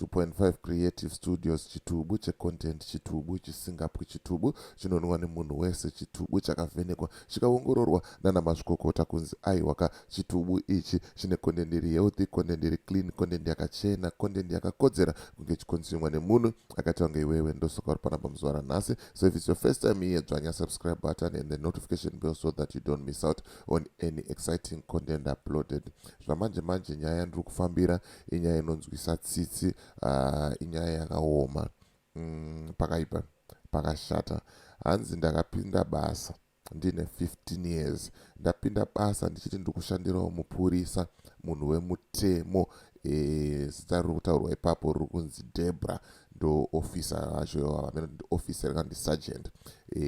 2.5 creative studios chitubu checontent chitubu chisingapwi chitubu chinonwa nemunhu wese chitubu chakavhenekwa chikaongororwa nana mazvikokota kunzi aiwaka chitubu ichi chine content iri healthy content iri clean content yakachena content yakakodzera kunge chikonzumwa nemunhu akaita kunge iwewe ndosoka uri panapa muzuva ranhasi so if it's your first time here dzvanya subscribe button and the notification bell so that you don't miss out on any exciting content uploaded zvamanje manje nyaya ndiri kufambira inyaya inonzwisa tsitsi uh, inyaya yakaoma mm, pakaipa pakashata hanzi ndakapinda basa ndine 15 years ndapinda basa ndichiti ndikushandirawo mupurisa munhu wemutemo eh, zita e, riri kutaurwa ipapo riri kunzi debra ndoofisa vacho vamene kuti ndiofisa rikandi sergeant e,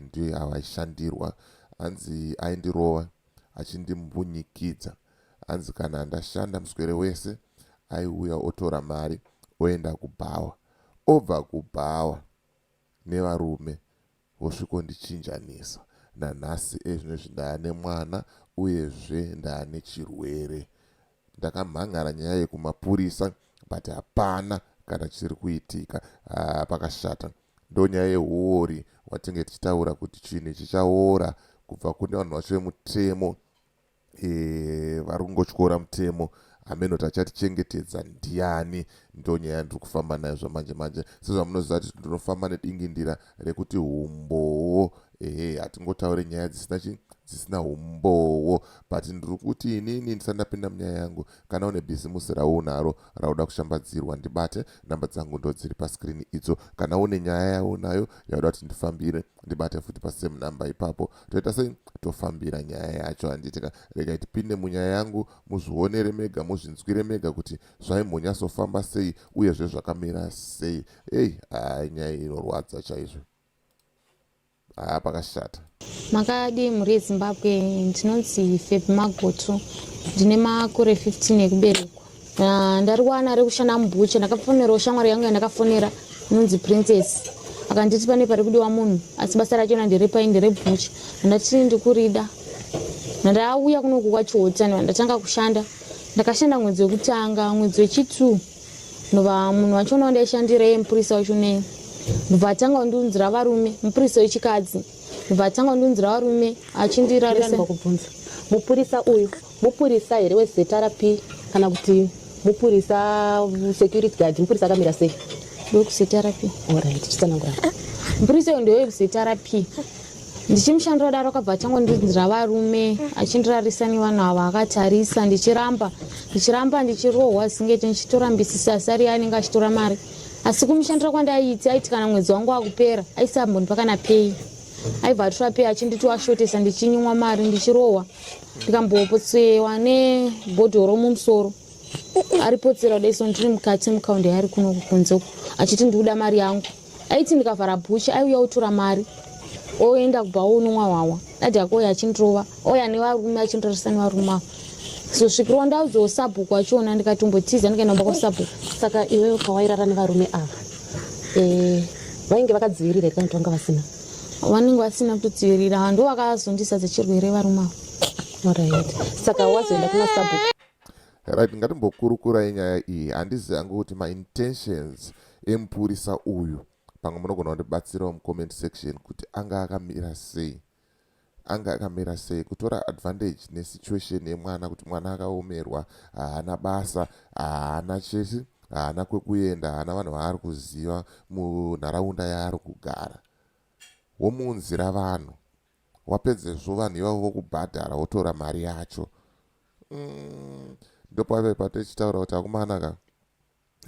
ndiyo yavaishandirwa hanzi aindirova achindimbunyikidza e, hanzi kana ndashanda muswere wese aiuya otora mari oenda kubhawa obva kubhawa nevarume vosvikondichinjanisa nanhasi ezvinozvi ndaya nemwana uyezve ndaya nechirwere ndakamhan'ara nyaya yekumapurisa but hapana kana chiri kuitika ah, pakashata ndonyaya yehuori watinge tichitaura kuti chinhu ichi chaora kubva kune vanhu vacho vemutemo e, vari kungotyora mutemo hameno tachatichengetedza ndiani ndonyaya yandiri kufamba nayo zvamanje manje sezvamunoziva kuti ndinofamba nedingindira rekuti humbowo ehe hatingotaure nyaya dzisina chi dzisina humbowo but ndiri kuti inini ndisati ndapinda munyaya yangu kana une bhizimusi raunaro rauda kushambadzirwa ndibate namba dzangu ndo dziri paskrini idzo kana une nyaya yaunayo yauda kuti ndifambire ndibate futi pasame number ipapo toita sei tofambira nyaya yacho handitika regai tipinde munyaya yangu muzvionere mega muzvinzwire mega kuti zvaimbonyasofamba sei uye zvezvakamira sei ei haa nyaya inorwadza chaizvo haa pakashata makadii mhuri yezimbabwe ndinonzi feb magotu ndine makore 15 ekuberekwa Ah, ndariwana ari kushanda mubucha ndakafonerawo shamwari yangu yandakafonera inonzi princess akanditi pane pari kudiwa munhu asi basa rachona nderepai nderebucha andati ndikurida ndauya kunoku kwachiotan ndatanga kushanda ndakashanda mwedzi wekutanga mwedzi wechitu ndova munhu wacho unawo ndaishandira ye mupurisa wacho nei ndobva atanga kundiunzira varume mupurisa wechikadzi ndobva atanga kundiunzira varume achindirarisa mupurisa uyu Mupurisa here weZRP kana kuti mupurisa security guard mupurisa akamira sei? WekuZRP. Alright, chitsanangura. Mupurisa uyo ndewe kuZRP. Ndichimushandira kudaro akabva achangondinzira varume achindirarisa nevanhu ava akatarisa ndichiramba ndichiramba ndichirohwa zingeti ndichitora mbisisi asi ari anenge achitora mari asi kumushandira kwandaiti aiti kana mwedzi wangu wakupera aisambondipa kana pei aibva atora pei achinditi ashotesa ndichinyumwa mari ndichirohwa ndikambopotsewa nebhodhoro mumusoro aripotsera kuda iso ndiri mukati mukaundi yaari kuno kukunze uku achiti ndikuda mari yangu aiti ndikavhara bhuchi aiuya otora mari oenda kubva onomwa hwawa dadi yako oya achindirova oya nevarume achindirarisa nevarume avo so svikirwa ndaudzoo sabhuku wachiona ndikatombotiza ndikaenda kumba kwasabhuku saka iwewe pawairara nevarume ava eh, vainge vakadzivirira here kana kuti vanga vasina wanenge wasina kutotsivirira vanhu ndo vakazondisa dzechirwere varuma right saka wazoenda kuna sabhuku right ngatimbokurukurai nyaya iyi handizi hangu kuti maintentions emupurisa uyu pamwe munogona kundibatsirawo mucomment section kuti anga akamira sei Anga akamira sei kutora advantage ne situation yemwana kuti mwana akaomerwa haana basa haana chese haana kwekuenda haana vanhu vaari kuziva munharaunda yaari kugara womuunzira vanhu wapedzezvo vanhu ivavo vokubhadhara wotora mari yacho mm, ndopave patochitaura kuti akumana ka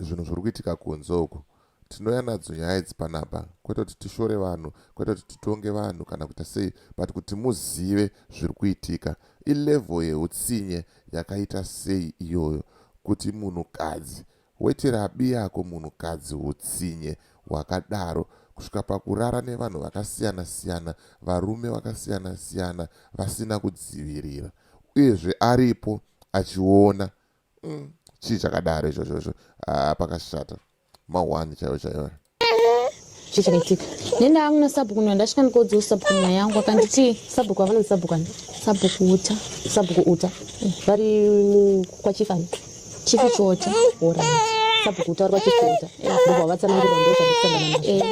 Zvinhu zviri kuitika kunze uku. Tinouya nadzo nyaya idzi panapa kwete kuti tishore vanhu, kwete kuti titonge vanhu kana kuita sei but kuti muzive zviri kuitika. Ilevel yeutsinye yakaita sei iyoyo kuti munhukadzi woitira abi yako munhukadzi utsinye hwakadaro kusvika pakurara nevanhu vakasiyana siyana, varume vakasiyana siyana vasina kudzivirira uyezve aripo achiona mm. chii chakadaro izvozvo izvo ah, pakashata mahwani chaivo chaivo chii chakaitika nenda angu nasabhuku nda ndasvika ndikoudzawo sabhuku nyaya yangu akanditii sabhuku avana musabhuku ani sabhuku uta sabhuku uta mm. vari kwachifani chifi chota orit sabhuku uta vari kwachifi uta eh, ndobva vatsanangirwa ndozvandisangana nazvo eh,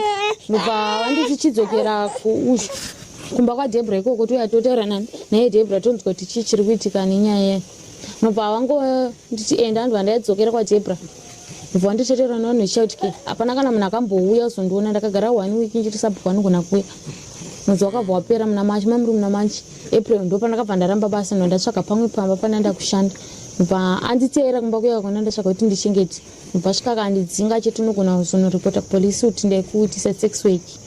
ndobva vanditi chidzokera kuuzvi kumba kwadebra ikoko touya totaura nani naye debra tonzwa kuti chii chiri kuitika nenyaya mubva wangu nditi enda ndibva ndaidzokera kwajebra mubva wanditeterwa navanhu vechautike hapana kana munhu akambouya kuzondiona ndakagara one week ndichiti sabhuku anogona kuuya mwedzi wakabva wapera muna machi mamuri muna machi april ndo pandakabva ndaramba basa no ndatsvaga pamwe pamba pane ndakushanda bva anditeera kumba kuya kwakona ndatsvaga kuti ndichengete bva svika kandidzinga chete unogona kuzonoripota kupolisi kuti ndaikuitisa sex weki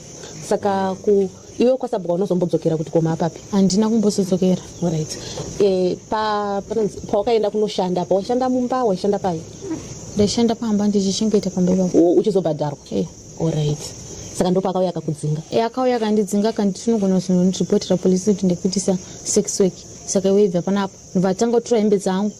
saka ku iwe kwasabhuka unozombodzokera kuti koma apapi handina kumbozodzokera right e, pa, pawakaenda kunoshanda pa waishanda mumba waishanda pai ndaishanda pamba ndichichengeta pamba ipapo oh, uchizobhadharwa e. orit saka ndo paakauya akakudzinga e, akauya akandidzinga akanditi unogona kuzonondiripotera polisi kuti ndikuitisa sex work saka iwe ibva panapa ndobva atanga kutora hembe dzangu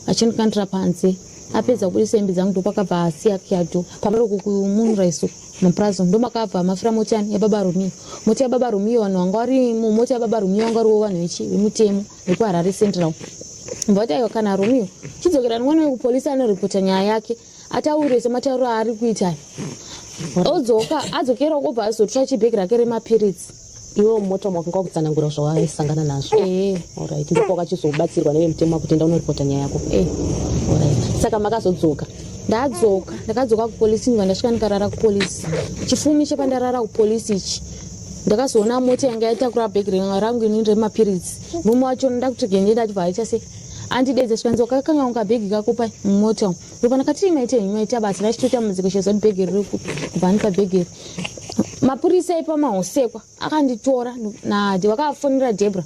achindikandira panze apedza kubudisa hembe dzangu ndopakabva asiya kyado pamari uku kumunraiso mupurazo ndomakabva mafira mota yani yababa romio mota yababa romio vanhu vanga vari mumota yababa romio vanga variwo vanhu vechi vemutemo vekuharare central mvati aiwa kana romio chidzokera nwana wekupolisi anoripota nyaya yake ataure sematauro aari kuita odzoka adzokera okobva azotora chibheki rake remapiritsi iwe mota makanga wakutsanangura zvawaisangana nazvo eh. orit ndipo wakachizobatsirwa nevemutemo wakutenda unoripota nyaya yako eh. orit saka makazodzoka ndadzoka ndakadzoka kupolisi ndwa ndasvika ndikarara kupolisi chifumi chepandarara kupolisi ichi ndakazoona mota yanga yatakura bhegi rangu ini remapiritsi mume wacho ndakutogendenda achibva aita sei Anti Dedze zvikanzi wakakanga unga bhegi kako pa mota umu. Rupana kati maita henyu maita basa rachitoita mudziko chezoti bhegi riri kupi kubva andipa bhegi iri. Mapurisa ipa mahosekwa akanditora naAdi vakafonera Debra.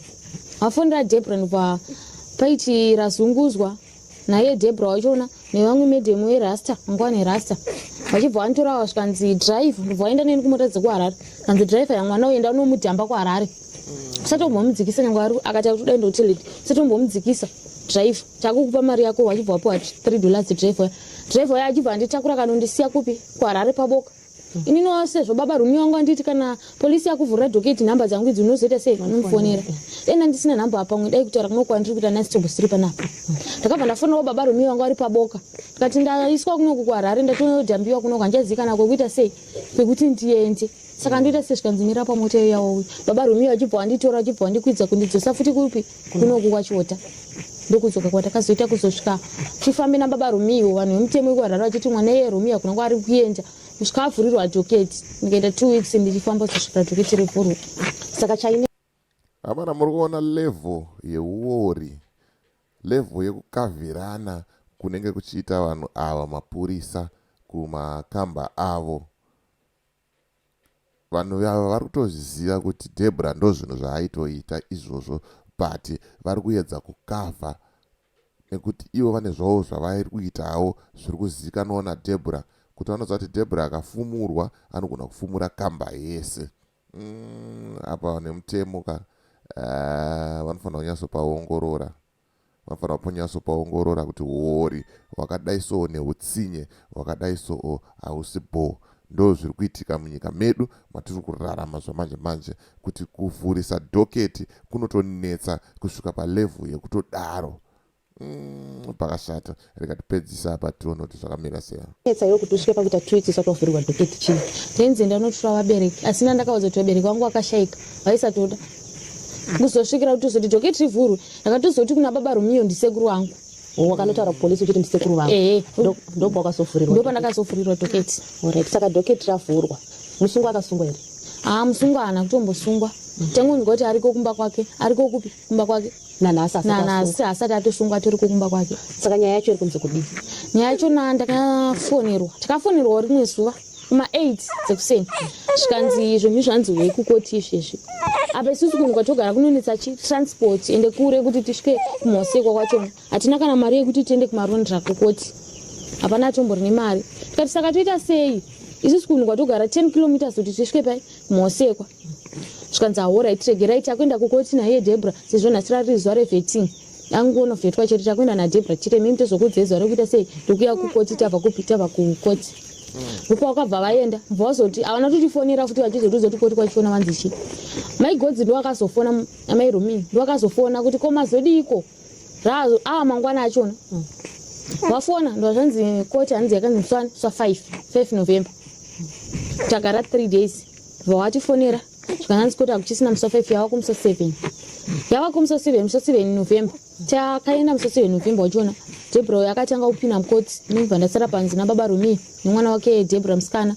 Vafonera Debra ndobva paiti razunguzwa naye Debra wachiona nevamwe medhemu werasta mangwane rasta vachibva vanditorava zvikanzi drive ndobva vaenda neni kumota dzekuharare kanzi driver yamwana uenda unomudhamba kuharare usatombomumdzikisa nyange ari akati akutoda enda kuteled usatombomumdzikisa driver takukupa mari yako vachibva vapiwa three dollars driver driver ya achibva anditakura kanondisiya kupi kuharare paboka inino sezvo baba rumi wangu anditi kana polisi yakuvhurira doketi nhamba dzangu idzi unozoita sei vanomufonera dai ndandisina nhamba apamwe dai kutaura kuno kwandiri kuita nasitombo siri panapo ndakabva ndafonerawo baba rumi wangu ari paboka ndikati ndaiswa kunoku kuharare ndatonodhambiwa kunoku handichazikana kwekuita sei kwekuti ndiende saka ndoita sezvikanzi mira pamota iyo yawauya baba rumi vachibva wanditora vachibva wandikwidza kundidzosa futi kupi kunoku kwachiota ndokudzoka kwatakazoita kuzosvika tifambe nababa romiwo vanhu vemutemo wekuharare vachiti mwana iye romiwo hakuna kwaari kuenda kusvika avhurirwa adhoketi ndikaita two weeks ndichifamba kuzosvika adhoketi revhurwa saka chaine amana muri kuona level yeuori level yekukavirana kunenge kuchiita vanhu ava mapurisa kumakamba avo Vanhu ava vari kutozviziva kuti Deborah ndozvinhu zvaaitoita izvozvo but vari kuyedza kucover nekuti ivo vane zvavo zvavairi kuitawo zviri kuzivikanwawo naDeborah kuti vanoziva kuti Deborah akafumurwa anogona kufumura kamba yese mm, apa nemutemo ka uh, vanofanira kunyatsopaongorora Vanofanira kunyatso paongorora kuti huori hwakadai soo nehutsinye hwakadai soo hausi bhoo. Ndoo zviri kuitika munyika medu matiri kurarama zvamanje manje kuti kuvhurisa dhoketi kunotonetsa kusvika palevel yekutodaro. Umm pakashata. rikatipedzisa apa tione kuti zvakamira sei etsa yokuti usvike pakuita twiti usati wavhurirwa dhoketi chii tenzi ndanotora vabereki asi nandakaudza kuti vabereki vangu vakashayika vaisatoda kuzosvikira kuti uzoti dhoketi rivhurwe ndakatozoti kuna baba romiyo ndisekuru wangu wakanotaura kupolisi uchiti ndisekuru vangu ehe ndobva wakazovhurirwa ndopa ndakazovhurirwa dhoketi orit saka dhoketi ravhurwa musungwa akasungwa here haa musungwa haana kutombosungwa tengondwa kuti ariko kumba kwake ariko kupi kumba kwake nanhasi nanhasi hasati atosungwa tiri kukumba kwake saka nyaya yacho iri kunze kudii nyaya yacho na ndakafonerwa takafonerwawo rimwe zuva kuma 8 dzekuseni zvikanzi zvinhu zvanzi wei kukoti izvezvi apa isusu kunhu kwatogara kunonetsa chitransport ende kure kuti tisvike kumhosekwa kwachona hatina kana mari yekuti tiende kumarondra kukoti hapana atombori nemari tikati saka toita sei isusu kunhu kwatogara 10 kilometers kuti tisvike pai kumhosekwa zvikanzi ahorai tiregerai takuenda kukoti naiye debra sezvo nhasi rari zuva reveting angonofetwa chete takuenda nadebra chete mimi tozokuudzai zuva rekuita sei ndokuya kukoti tava kupi tava kukoti mupa wakabva vaenda mva wazoti havana totifonera futi vachizotiudza kuti koti kwachifona vanzi chi mai godzi ndowakazofona amai romini ndowakazofona kuti ko mazodiiko raazo ava mangwana achona mm. vafona mm. ndozvanzi koti hanzi yakanzi mswana swa 5 5 november takara 3 days bva watifonera zvikananzi kuti hakuchisina musi wafive yava kumusi seven yava kumusi seven musi seven november takaenda musi seven november uchiona debra uyo akatanga kupinda mukoti ndibva ndasara panze nababa rumi nemwana wake debra musikana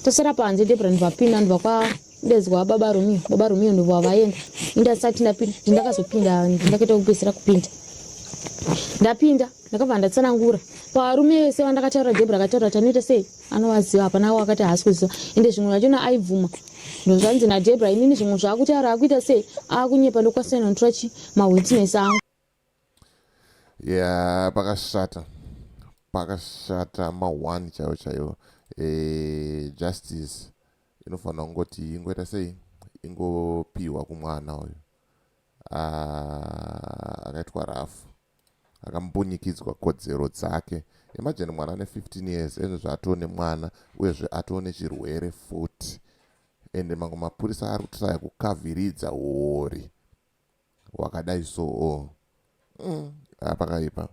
tosara panze debra ndivapinda ndibva kwa ndezwa baba romio baba romio ndova vaenda ndasati ndapinda ndakazopinda ndakaita kupedzisira kupinda ndapinda ndakabva ndatsanangura parume vese vandakataura debra akataura tanoita sei anovaziva hapana wakati haasi kuziva ende zvimwe zvachona aibvuma ndozvanzi nadebra inini zvimwe zvaakutaura akuita sei akunyepa ndokwasinonotora chi mawitness angu ya pakashata pakashata ma1 chaiwo chaiwo e, justice inofanira kungoti ingoita sei ingopiwa kumwana uyu ah, akaitwa rafu akambunyikidzwa kodzero dzake imagine mwana ane 15 years ezvo zvaatoo nemwana uyezve atoo nechirwere futi ende mamwe mapurisa ari kutraya kukaviridza huori hwakadai soo mm, ah, pakaipa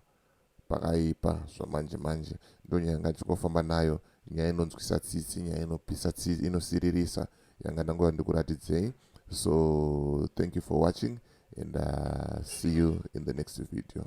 pakaipa zvamanje manje ndonyaya ngachikofamba nayo nyaya inonzwisa tsitsi nyaya inopisa tsitsi inosiririsa yanga ndangova ndikuratidzei so thank you for watching and uh, see you in the next video